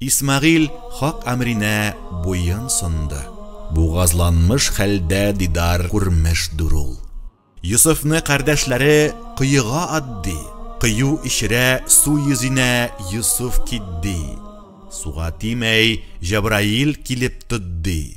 Исмәгыйль хак әмренә буен сынды. Бугазланмыш хәлдә дидар күрмеш дүр ул. Йосыфны кардәшләре коега ат ди, кою эчерә су йөзинә Йосыф кит ди. Суга тимәй, Җәбраил килеп тот ди.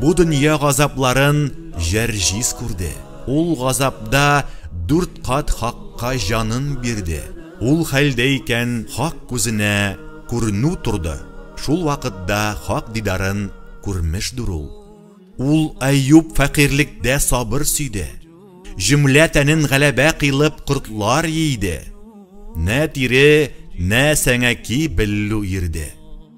Бу дөнья газапларын Җәрҗис күрде. Ул газапда дүрт кат Хакка җанын бирде. Ул хәлдә икән Хак күзенә күренү торды, шул вакытда Хак дидарын күрмешдер ул. Ул Әюп фәкыйрьлектә сабыр сөйде. Җөмлә тәнен гәләбә кыйлып кортлар йийде. Нә тире, нә сәңәки беллү ирде.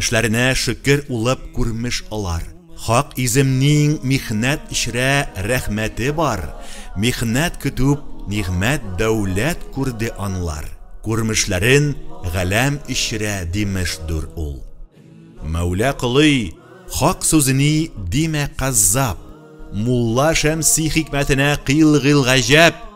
Эшләренә шөкер улып күрмеш алар. Хак иземниң михнәт эчрә рәхмәте бар, михнәт көтүп нигъмәт дәүләт күрде анлар, күрмешләрен галәм эчрә димеш дүр ул. Мәүлә колый, хак сүзени димә каззап, мулла Шәмси хикмәтенә кыйл гыйл гаҗәп,